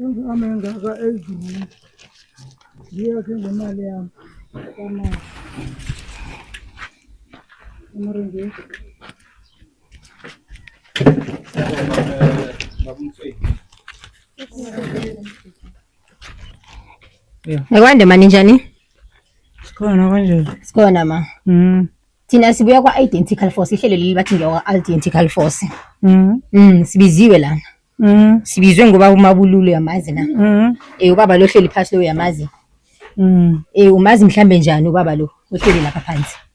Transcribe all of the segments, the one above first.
Ingame engaka ezweni. Ngiyakhe ngemali yami. Kama. Amarenje. Babumfeki. Ngikwande mani njani? Sikhona kanjani? Sikhona ma. Mm. Thina sibuya kwa Identical Force, ihlelo leli bathi ngiyakwa Identical Force. Mm. Mm, sibiziwe lana. Mm. Sibizwe ngoba umabululu yamazi na. Mm. Eh ubaba lo hleli phansi lo yamazi. Mm. Eh umazi mhlambe njani ubaba lo ohleli lapha phansi?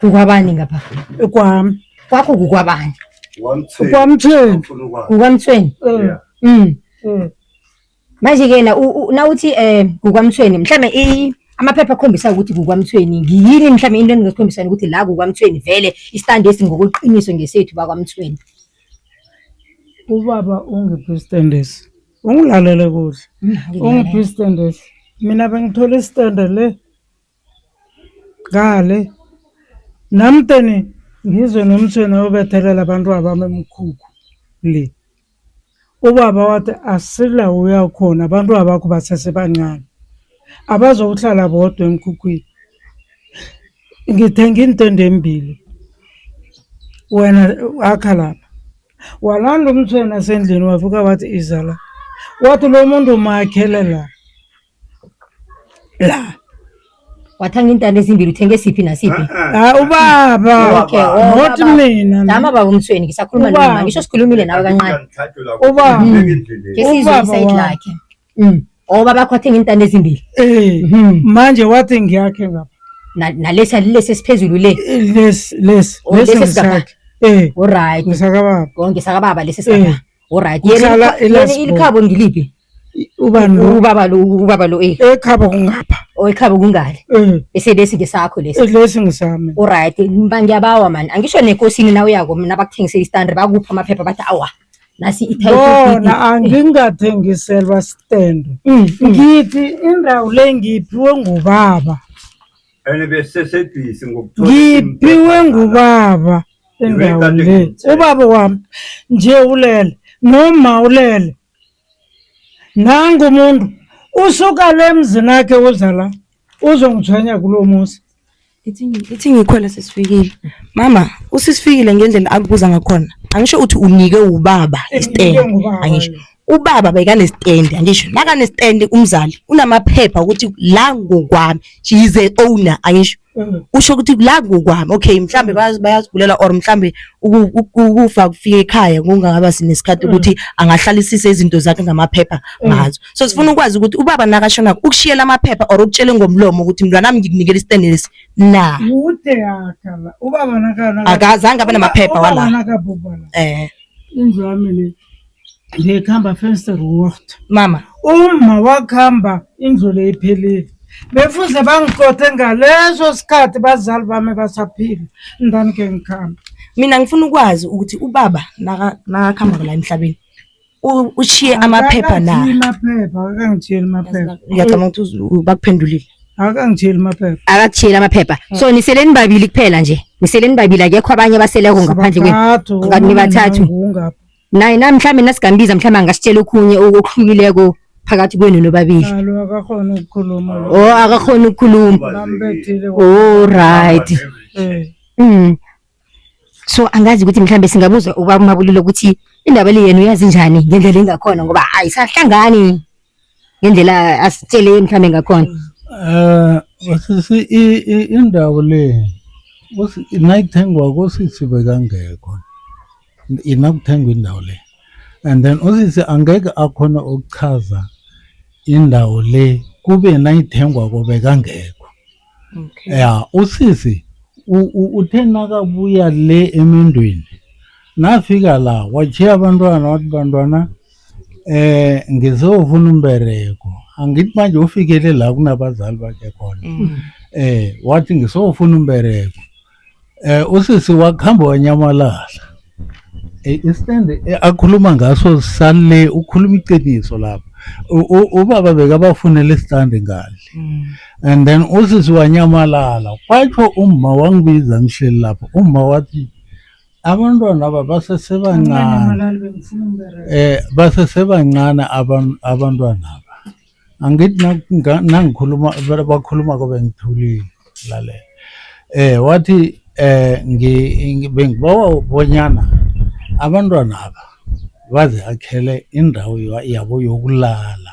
Kukwabani ngapha? Kwami. Kwakho kukwabani? Kwamthweni. Kukwamthweni. Eh. Mm. Eh. Manje ke na nawuthi eh kukwamthweni mhlambe i amaphepha akhombisa ukuthi kukwamthweni ngiyini mhlambe into eningakhombisana ukuthi la kukwamthweni vele istand esi ngokuqiniso ngesethu bakwamthweni. Ubaba ungiphi istand esi? Ungilalele kuhle. Ungiphi istand esi? Mina bengithola istand le Ngale namteni ngizwe nomtshweni obethelela abantwabami emkhukhu le. Ubaba wathi asila uya khona abantwabakho basesebancane. Abazokuhlala bodwa emkhukhwini. Ngithenga iintende embili. Wena akha lapha. Walanda umtshweni asendlini wafika wathi iza la. Wathi lo muntu umakhele la. la wathenga iintanda ezimbili uthenge siphi nasiphi Ah, ubaba Okay, oh, not baba. mina dama baba umsweni ngisakhuluma Ubaba. noma ngisho sikhulumile nawe kancane Ubaba. ke sizwe Ubaba isayidi wami. lakhe Mm. o baba akho wathenga iintanda ezimbili Eh, Mhm. manje wathi ngiyakhe ngapha Na- nalesi alilesi esiphezulu le Eh, lesi lesi Oh, lesi lesi esigaba. ngisakhe eh oryt ngisakababa konke sakababa lesi Eh. sikaba oryt Kuhlala yena eLasburg. ilikhabo ngiliphi ubani lo ubaba lo ubaba lo eh ekhaba kungapha oyikhaba kungale eh eselesi ngesakho lesi lesi ngisami alright mba ngiyabawa man angisho nekosini na uyako mina bakuthengisela istandard bakupha amaphepha bathi awa nasi bona eh. angingathengiselwa stand mm, mm. ngithi indawo le ngiphiwe ngubaba ene besesebhisi ngokuthola ngiphiwe ngubaba indawo le ubaba wami nje ulele noma ulele nangu umuntu usuka le mzini akhe uza la uzongithwenya kulo muzi ithi ngikhwele sesifikile mama usisifikile ngendlela akubuza ngakhona angisho uthi unike ubaba istand angisho ubaba bekanesitendi angisho nakanesitendi umzali unamaphepha ukuthi la ngokwami she is a owner angisho Mm. usho ukuthi la kukwami okay mhlambe mm. bayazigulela or mhlambe ukufa kufika ekhaya kungaba sinesikhathi mm. ukuthi angahlalisisa izinto zakhe ngamaphepha ngazo so sifuna ukwazi ukuthi ubaba nakashona ukushiyela amaphepha or ukutshele ngomlomo ukuthi mntwana nami ngikunikela isitende lesi na kude yakhala ubaba nakana akazange abe namaphepha wala eh indlwami le ngikhamba first road mama uma wakuhamba indlule iphelile befuze bangiqothe ngaleso sikhathi bazali bami basaphila ndani ke ngikhamba mina ngifuna ukwazi ukuthi ubaba nakakhamba la emhlabeni ushiye amaphepha na amaphepha akangitsheli amaphepha ngiyacabanga ukuthi bakuphendulile akangitsheli amaphepha akakushiyela amaphepha so ah. niseleni babili kuphela nje niseleni babili akekho abanye abaseleko ngaphandle kwenu nibathathu naye nami mhlawumbe nasigambiza mhlawumbe angasitshela okhunye okuhlukileko phakathi kwenu nobabili Alo akakhona ukukhuluma lo. o akakhoni ukukhuluma Bambethile. o right Eh. Mm. So angazi ukuthi mhlambe singabuza ubaba uMabulile ukuthi indaba le yena uyazi njani ngendlela engakhona ngoba ayisahlangani ngendlela asitshele mhlawumbe ngakhona um sisi indawo le nayithengwa kosisi bekangekho inakuthengwa indawo le and then usisi angeke akhona ukuchaza indawo le kube nayithengwa kobe kangekho okay. ya usisi uthe nakabuya le emendweni nafika la wachiya abantwana wathi bantwana Eh ngizofuna umbereko. Angithi manje ufikele la kunabazali bakhe khona. Mm. Eh wathi ngisofuna umbereko. Eh usisi wakuhamba wanyamalala. Eh istand eh, akhuluma ngaso sale ukhuluma iqiniso lapha. U- u- Ubaba bekabafunele istand ngale. Mm. and then usisi wanyamalala kwatsho umma wangibiza ngihleli lapho umma wathi abantwana aba basesebancane eh basesebancane abantwana aba angithi nangikhuluma bakhuluma kobe ngithulile lalela eh wathi eh bengibawa bonyana abantwana aba baze akhele indawo yabo yokulala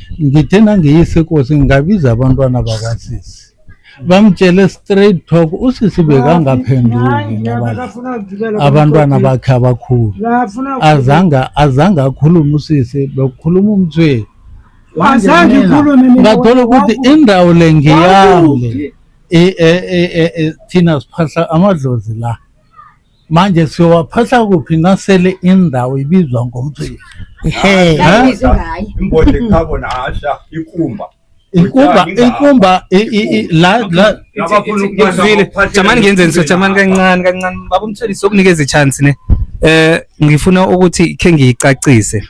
ngithe nangiyise kosi ngabiza abantwana bakasisi bamtshele straight talk usisi bekangaphenduki abantwana bakhe abakhulu azange azange akhulume usisi bekukhuluma umthweni azange ikhulume ngathola ukuthi indawo le ngiyami e, e, e, thina siphahla amadlozi la manje siyowaphahla kuphi nasele indawo ibizwa ngomthweli Ehe. Yazi izwi ngaye. imbodla ekhabo nasha ikumba inkumba inkumba i- i- i- la la Nabafuna ukuphahla Ngizwile. baphahla Jamani ngenze ngiso jamani nabafuna kancane kancane. Baba umthelisi okunikeza ichance ne. Eh ngifuna ukuthi ke ngiyicacise.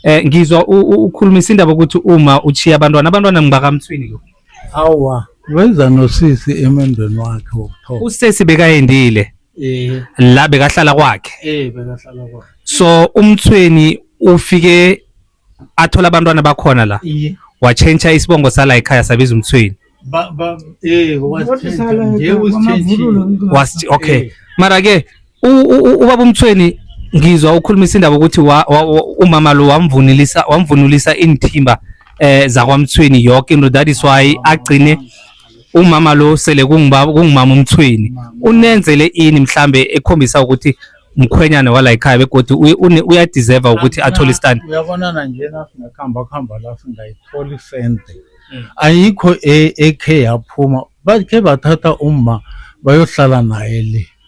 Eh ngizwa u- u- ukhulumisa indaba ukuthi uma uchiya abantwana abantwana ngibakamthwini lo. awa weza nosisi emendweni wakhe wokuthoma usesi bekayendile eh la bekahlala kwakhe eh bekahlala kwakhe so umthweni ufike athola abantwana bakhona la iye watshentsha isibongo sala ekhaya sabiza umthweni ba ba eh wasithenja nje usithenjile Wasi- okay Eh. mara ke ubaba umthweni ngizwa ukhulumisa indaba ukuthi umama lo wamvunulisa wamvunulisa inthimba eh zakwamthweni yonke into that is why agcine umama lo sele kungibaba kungimama umthweni unenzele ini mhlambe ekhombisa ukuthi mkhwenyana wala ekhaya begodwa uyadeserve ukuthi athole istand uyabonana nje nasingakhamba khamba la singayithola isente mm. ayikho e, ekhe yaphuma bakhe bathatha umma bayohlala naye le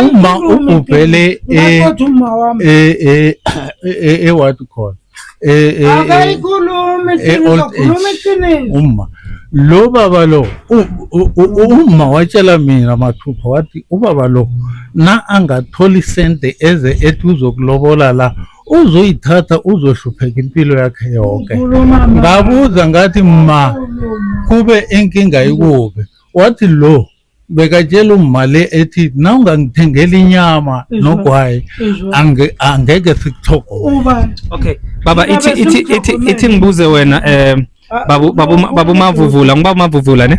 uma ubhele ewatt khona akayikhulumi uma lo baba lo uma watshela mina mathupha wathi ubaba lo na angathola isente eze ethi uzokulobola la uzoyithatha uzohlupheka impilo yakhe yonke ngabuza ngathi ma kube inkinga ikuphi wathi lo bekatshela umali ethi na ungangithengela inyama nogwayi angeke sikuthogobani okay baba ithi ithi ithi ithi ngibuze wena um babu babu babu mavuvula ngiba mavuvula ne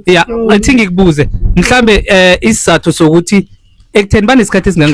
ya ithi ngikubuze mhlambe eh isizathu sokuthi ekutheni banesikhathi esingange